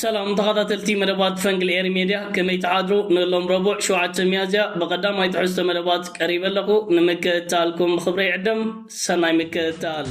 ሰላም ተኸታተልቲ መደባት ፈንግል ኤሪ ሜድያ ከመይ ትሓድሩ ንሎም ረቡዕ ሸውዓተ ሚያዝያ ብቐዳማይ ትሕዝቶ መደባት ቀሪበ ኣለኹ ንምክእታልኩም ብኽብረ ይዕደም ሰናይ ምክእታል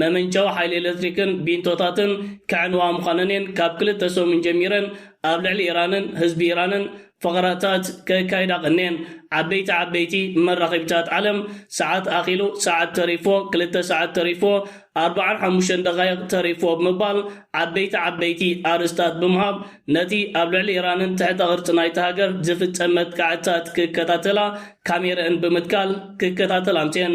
መመንጨዊ ሓይሊ ኤለትሪክን ቢንቶታትን ከዕንዋ ምዃነን'የን ካብ ክልተ ሰሙን ጀሚረን ኣብ ልዕሊ ኢራንን ህዝቢ ኢራንን ፈኸራታት ከካይዳ ቀንየን። ዓበይቲ ዓበይቲ መራኸቢታት ዓለም ሰዓት ኣኺሉ፣ ሰዓት ተሪፎ፣ ክልተ ሰዓት ተሪፎ፣ ኣርብዓን ሓሙሽተን ደቓይቕ ተሪፎ ብምባል ዓበይቲ ዓበይቲ ኣርእስታት ብምሃብ ነቲ ኣብ ልዕሊ ኢራንን ትሕተ ቅርጺ ናይታ ሃገር ዝፍጸም መጥቃዕትታት ክከታተላ ካሜረእን ብምትካል ክከታተላ ኣምጺኤን።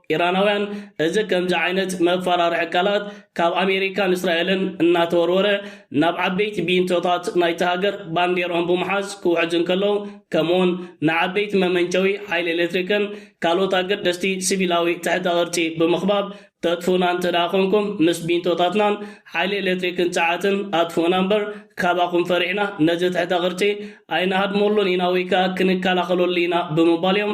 ኢራናውያን እዚ ከምዚ ዓይነት መፋራርሒ ቃላት ካብ ኣሜሪካን እስራኤልን እናተወርወረ ናብ ዓበይቲ ቢንቶታት ናይታ ሃገር ባንዴርኦም ብምሓዝ ክውሕዙ እንከለዉ ከምኡውን ንዓበይቲ መመንጨዊ ሓይሊ ኤሌክትሪክን ካልኦት ኣገደስቲ ስቪላዊ ትሕተ ቅርጺ ብምኽባብ ተጥፍኡና እንተድኣ ኮንኩም ምስ ቢንቶታትናን ሓይሊ ኤሌክትሪክን ጸዓትን ኣጥፍኡና እምበር ካባኹም ፈሪሕና ነዚ ትሕተ ቅርጺ ኣይንሃድመሉን ኢና ወይ ከኣ ክንከላኸለሉ ኢና ብምባል እዮም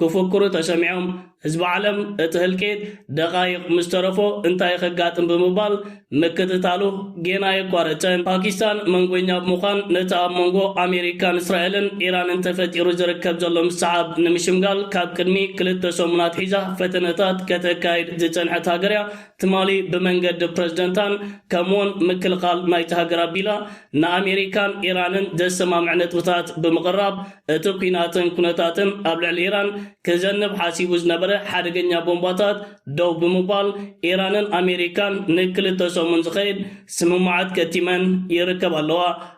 ክፍክሩ ተሰሚዖም፣ ህዝቢ ዓለም እቲ ህልቂት ደቓይቕ ምስ ተረፎ እንታይ ከጋጥም ብምባል ምክትታሉ ጌና ኣየቋረጸን። ፓኪስታን መንጐኛ ብምዃን ነቲ ኣብ መንጐ ኣሜሪካን እስራኤልን ኢራንን ተፈጢሩ ዝርከብ ዘሎ ምስሕሓብ ንምሽምጋል ካብ ቅድሚ ክልተ ሰሙን ኣትሒዛ ፈተነታት ከተካይድ ዝጸንሐት ሃገር'ያ። ትማሊ ብመንገዲ ፕረዚደንታን ከምኡ'ውን ምክልኻል ናይታ ሃገር ኣቢላ ንኣሜሪካን ኢራንን ዘሰማምዕ ነጥብታት ብምቕራብ እቲ ኲናትን ኩነታትን ኣብ ልዕሊ ኢራን ክዘንብ ሓሲቡ ዝነበረ ሓደገኛ ቦምባታት ደው ብምባል ኢራንን ኣሜሪካን ንክልተ ሰሙን ዝኸይድ ስምምዓት ከቲመን ይርከባ ኣለዋ።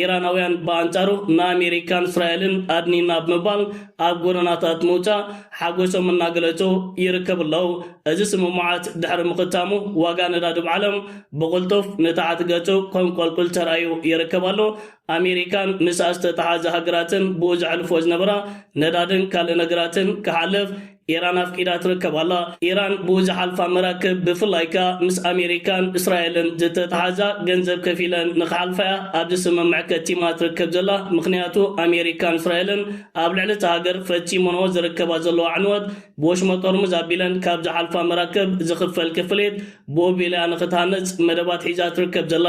ኢራናውያን ብኣንጻሩ ንኣሜሪካን እስራኤልን ኣድኒና ብምባል ኣብ ጎደናታት ምውጻእ ሓጎሶም እናገለጹ ይርከቡ ኣለው። እዚ ስምምዓት ድሕሪ ምኽታሙ ዋጋ ነዳዲብ ዓለም ብቕልጡፍ ንታሕቲ ገጹ ከንቆልቁል ተራእዩ ይርከብ ኣሎ። ኣሜሪካን ምስኣ ዝተተሓዘ ሃገራትን ብኡ ዘሕልፍዎ ዝነበራ ነዳድን ካልእ ነገራትን ክሓልፍ ኢራን ኣፍቂዳ ትርከብ ኣላ። ኢራን ብኡ ዝሓልፋ መራክብ ብፍላይ ከኣ ምስ ኣሜሪካን እስራኤልን ዝተተሓዛ ገንዘብ ከፊለን ንክሓልፋ'ያ ኣብዚ ስምምዕ ከቲማ ትርከብ ዘላ ምኽንያቱ ኣሜሪካን እስራኤልን ኣብ ልዕሊ እታ ሃገር ፈጺመንኦ ዝርከባ ዘለዋ ዕንወት ብወሽመጥ ኦርሙዝ ኣቢለን ካብ ዝሓልፋ መራክብ ዝኽፈል ክፍሊት ብኡ ኣቢላ'ያ ንክትሃንጽ መደባት ሒዛ ትርከብ ዘላ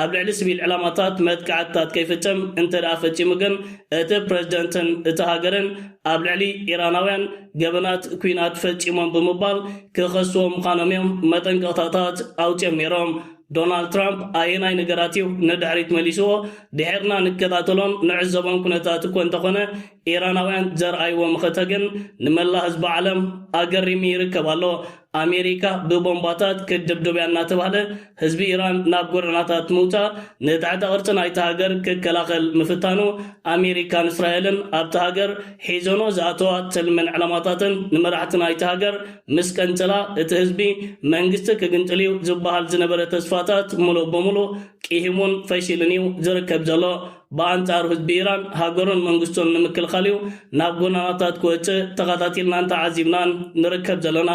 ኣብ ልዕሊ ስቪል ዕላማታት መጥቃዕትታት ከይፍጽም እንተድኣ ፈጺሙ ግን፣ እቲ ፕረዚደንትን እታ ሃገርን ኣብ ልዕሊ ኢራናውያን ገበናት ኲናት ፈጺሞም ብምባል ክኸስዎ ምዃኖም'ዮም መጠንቀቕታታት ኣውጺኦም ነይሮም። ዶናልድ ትራምፕ ኣየናይ ነገራት'ዩ ንድሕሪት መሊስዎ? ድሒርና ንከታተሎን ንዕዘቦን ኵነታት እኮ እንተዀነ፣ ኢራናውያን ዘርኣይዎ መኸተ ግን ንመላእ ህዝቢ ዓለም ኣገሪሚ ይርከብ ኣሎ። ኣሜሪካ ብቦምባታት ክትድብድብ'ያ እናተባህለ ህዝቢ ኢራን ናብ ጎደናታት ምውጻእ ንትሕተ ቅርጺ ናይታ ሃገር ክከላኸል ምፍታኑ፣ ኣሜሪካን እስራኤልን ኣብታ ሃገር ሒዞንኦ ዝኣተዋ ትልምን ዕላማታትን ንመራሕቲ ናይታ ሃገር ምስ ቀንጸላ፣ እቲ ህዝቢ መንግስቲ ክግንጥል'ዩ ዝበሃል ዝነበረ ተስፋታት ምሉእ ብምሉእ ቂሂሙን ፈሺሉን'ዩ ዝርከብ ዘሎ። ብኣንጻሩ ህዝቢ ኢራን ሃገሩን መንግስቱን ንምክልኻል'ዩ ናብ ጎደናታት ክወጽእ ተኸታቲልናን ተዓዚብናን ንርከብ ዘለና።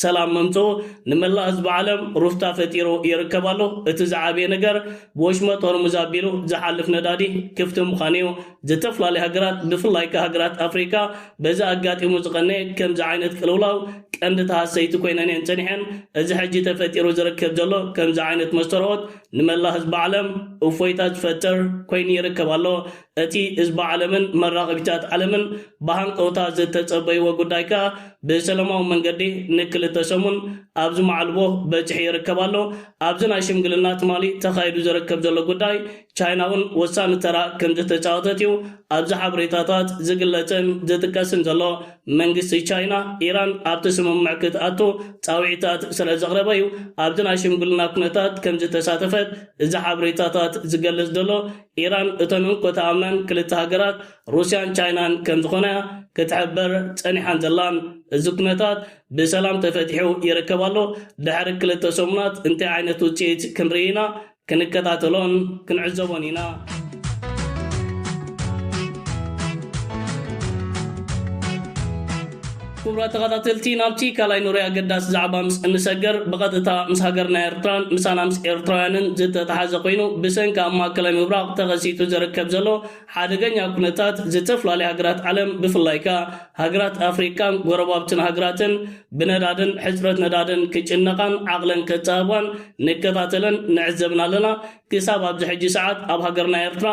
ሰላም ምምጽኡ ንመላእ ህዝቢ ዓለም ሩፍታ ፈጢሩ ይርከብ ኣሎ። እቲ ዝዓበየ ነገር ብወሽመጥ ሆርሙዝ ኣቢሉ ዝሓልፍ ነዳዲ ክፍቲ ምዃኑ'ዩ። ዝተፍላለያ ሃገራት ብፍላይ ከኣ ሃገራት ኣፍሪቃ በዚ ኣጋጢሙ ዝቐነየ ከምዚ ዓይነት ቅልውላው ቀንዲ ተሃሰይቲ ኮይነን'የን ጸኒሐን። እዚ ሕጂ ተፈጢሩ ዝርከብ ዘሎ ከምዚ ዓይነት መስተርኦት ንመላእ ህዝቢ ዓለም እፎይታ ዝፈጥር ኮይኑ ይርከብ ኣሎ። እቲ ህዝቢ ዓለምን መራኸቢታት ዓለምን ብሃንቀውታ ዝተጸበይዎ ጉዳይ ከኣ ብሰለማዊ መንገዲ ንክልተ ሰሙን ኣብዚ መዓልቦ በጺሑ ይርከብ ኣሎ። ኣብዚ ናይ ሽምግልና ትማሊ ተኻይዱ ዝርከብ ዘሎ ጉዳይ ቻይና'ውን ወሳኒ ተራ ከምዝተጻወተት'ዩ ኣብዚ ሓበሬታታት ዝግለጽን ዝጥቀስን ዘሎ። መንግስቲ ቻይና፣ ኢራን ኣብቲ ስምምዕ ክትኣቱ ጻውዒታት ስለ ዘቕረበ'ዩ ኣብቲ ናይ ሽምግልና ኩነታት ከም ዝተሳተፈት እዚ ሓበሬታታት ዝገልጽ ዘሎ። ኢራን እተን እንኮ ተኣምነን ክልተ ሃገራት ሩስያን ቻይናን ከም ዝኾና'ያ ክትሕብር ጸኒሓን ዘላን። እዚ ኩነታት ብሰላም ተፈቲሑ ይርከብ ኣሎ። ድሕሪ ክልተ ሰሙናት እንታይ ዓይነት ውጽኢት ክንርኢ ኢና? ክንከታተሎን ክንዕዘቦን ኢና። ክቡራት ተኸታተልቲ ናብቲ ካልኣይ ኑሪ ኣገዳሲ ዛዕባ ምስ እንሰገር ብቐጥታ ምስ ሃገርና ኤርትራን ምሳና ምስ ኤርትራውያንን ዝተተሓዘ ኮይኑ ብሰንኪ ኣብ ማእከላይ ምብራቕ ተኸሲቱ ዝርከብ ዘሎ ሓደገኛ ኩነታት ዝተፈላለዩ ሃገራት ዓለም ብፍላይ ከኣ ሃገራት ኣፍሪቃን ጎረባብትን ሃገራትን ብነዳድን ሕጽረት ነዳድን ክጭነቓን ዓቕለን ከጻብባን ንከታተለን ንዕዘብን ኣለና። ክሳብ ኣብዚ ሕጂ ሰዓት ኣብ ሃገርና ኤርትራ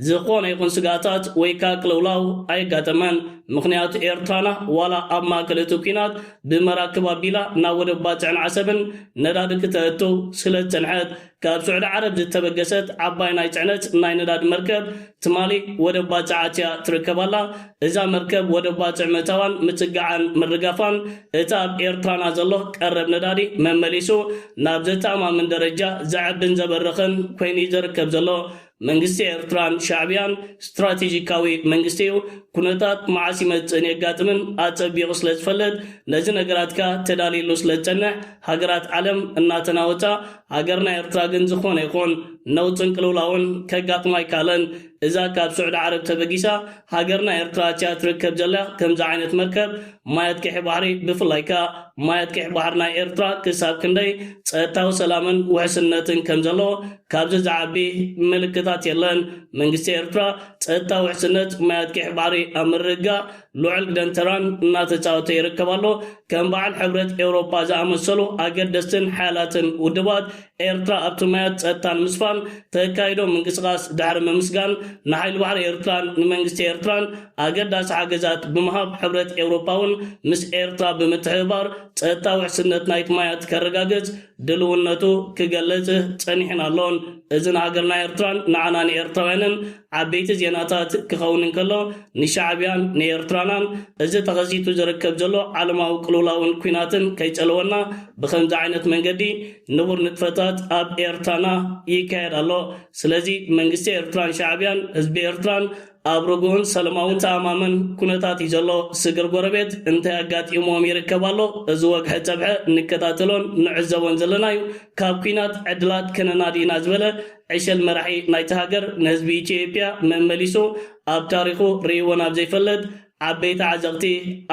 ዝኾነ ይኹን ስግኣታት ወይ ከኣ ቅልውላው ኣየጋጠመን። ምኽንያቱ ኤርትራና ዋላ ኣብ ማእከል እቲ ኲናት ብመራክብ ኣቢላ ናብ ወደብ ባጽዕን ዓሰብን ነዳዲ ክተእቱ ስለዝጸንሐት፣ ካብ ስዑዲ ዓረብ ዝተበገሰት ዓባይ ናይ ጽዕነት ናይ ነዳዲ መርከብ ትማሊ ወደብ ባጽዕ ኣትያ ትርከብ ኣላ። እዛ መርከብ ወደብ ባጽዕ ምእታዋን ምጽግዓን ምርጋፋን እቲ ኣብ ኤርትራና ዘሎ ቀረብ ነዳዲ መመሊሱ ናብ ዘተኣማምን ደረጃ ዘዕብን ዘበርኽን ኮይኑ'ዩ ዘርከብ ዘሎ። መንግስቲ ኤርትራን ሻዕብያን ስትራቴጂካዊ መንግስቲ እዩ። ኩነታት መዓስ ይመጽእን የጋጥምን ኣጸቢቑ ስለ ዝፈልጥ፣ ነዚ ነገራት ከኣ ተዳሊሉ ስለ ዝጸንሕ፣ ሃገራት ዓለም እናተናወጻ፣ ሃገርና ኤርትራ ግን ዝኾነ ይኹን ነውጽን ቅልውላውን ከጋጥማ ኣይከኣለን። እዛ ካብ ስዑዲ ዓረብ ተበጊሳ፣ ሃገርና ኤርትራ እቲኣ ትርከብ ዘላ ከምዚ ዓይነት መርከብ ማይ ኣጥቂሒ ባሕሪ ብፍላይ ከኣ ማይ ኣጥቂሒ ባሕሪ ናይ ኤርትራ ክሳብ ክንደይ ጸጥታዊ ሰላምን ውሕስነትን ከም ዘለዎ ካብዚ ዝዓቢ ምልክታት የለን መንግስቲ ኤርትራ ጸጥታ ውሕስነት ማይ ኣጥቂሒ ባሕሪ ኣብ ምርግጋእ ልዑል ግደን ተራን እናተጻወተ ይርከብ ኣሎ ከም በዓል ሕብረት ኤውሮጳ ዝኣመሰሉ ኣገደስትን ሓያላትን ውድባት ኤርትራ ኣብቲ ማያት ጸጥታ ንምስፋን ተካይዶ ምንቅስቓስ ድሕሪ ምምስጋን፣ ንሓይሊ ባሕሪ ኤርትራን ንመንግስቲ ኤርትራን ኣገዳሲ ሓገዛት ብምሃብ ሕብረት ኤውሮጳ'ውን ምስ ኤርትራ ብምትሕብባር ጸጥታ ውሕስነት ናይቲ ማያት ከረጋግጽ ድልውነቱ ክገልጽ ጸኒሑን ኣሎን። እዚ ንሃገርና ኤርትራን ንዓና ንኤርትራውያንን ዓበይቲ ዜናታት ክኸውን እንከሎ፣ ንሻዕብያን ንኤርትራናን እዚ ተኸሲቱ ዝርከብ ዘሎ ዓለማዊ ቅልውላውን ኲናትን ከይጸለወና ብኸምዚ ዓይነት መንገዲ ንቡር ንጥፈታት ኣብ ኤርትራና ይካየድ ኣሎ። ስለዚ መንግስቲ ኤርትራን ሻዕብያን ህዝቢ ኤርትራን ኣብ ርጉእን ሰለማውን ተኣማምን ኩነታት እዩ ዘሎ። ስግር ጎረቤት እንታይ ኣጋጢምዎም ይርከብ ኣሎ እዚ ወግሐ ጸብሐ ንከታተሎን ንዕዘቦን ዘለና እዩ። ካብ ኩናት ዕድላት ከነናዲ ኢና ዝበለ ዕሸል መራሒ ናይታ ሃገር ንህዝቢ ኢትዮጵያ መመሊሱ ኣብ ታሪኹ ርእይዎ ናብ ዘይፈልጥ ዓበይቲ ዓዘቕቲ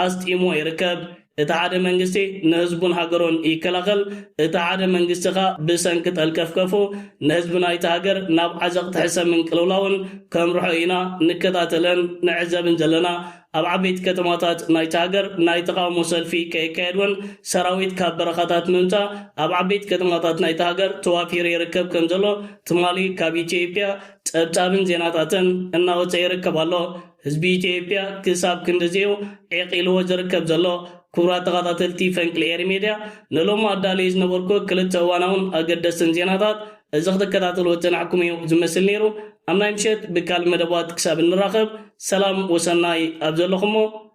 ኣስጢምዎ ይርከብ። እቲ ሓደ መንግስቲ ንህዝቡን ሃገሩን ይከላኸል፣ እቲ ሓደ መንግስቲ ከኣ ብሰንኪ ጠልቀፍቀፉ ንህዝቢ ናይታ ሃገር ናብ ዓዘቕቲ ሕሰምን ቅልውላውን ከምርሖ ኢና ንከታተልን ንዕዘብን ዘለና። ኣብ ዓበይቲ ከተማታት ናይታ ሃገር ናይ ተቓውሞ ሰልፊ ከየካየድ ውን ሰራዊት ካብ በረኻታት ምምጻእ ኣብ ዓበይቲ ከተማታት ናይታ ሃገር ተዋፊሩ ይርከብ ከምዘሎ ትማሊ ካብ ኢትዮጵያ ጸብጻብን ዜናታትን እናወጸ ይርከብ ኣሎ። ህዝቢ ኢትዮጵያ ክሳብ ክንድዚ'ዩ ዒቕ ኢልዎ ዝርከብ ዘሎ። ክቡራት ተኻታተልቲ ፈንቅል ኤሪ ሜድያ፣ ንሎሚ ኣዳልየ ዝነበርኩ ክልተ እዋናውን ኣገደስትን ዜናታት እዚ ክትከታተልዎ ዝጸናሕኩም እዩ ዝመስል ነይሩ። ኣብ ናይ ምሸት ብካልእ መደባት ክሳብ እንራኸብ ሰላም ወሰናይ ኣብ ዘለኹሞ።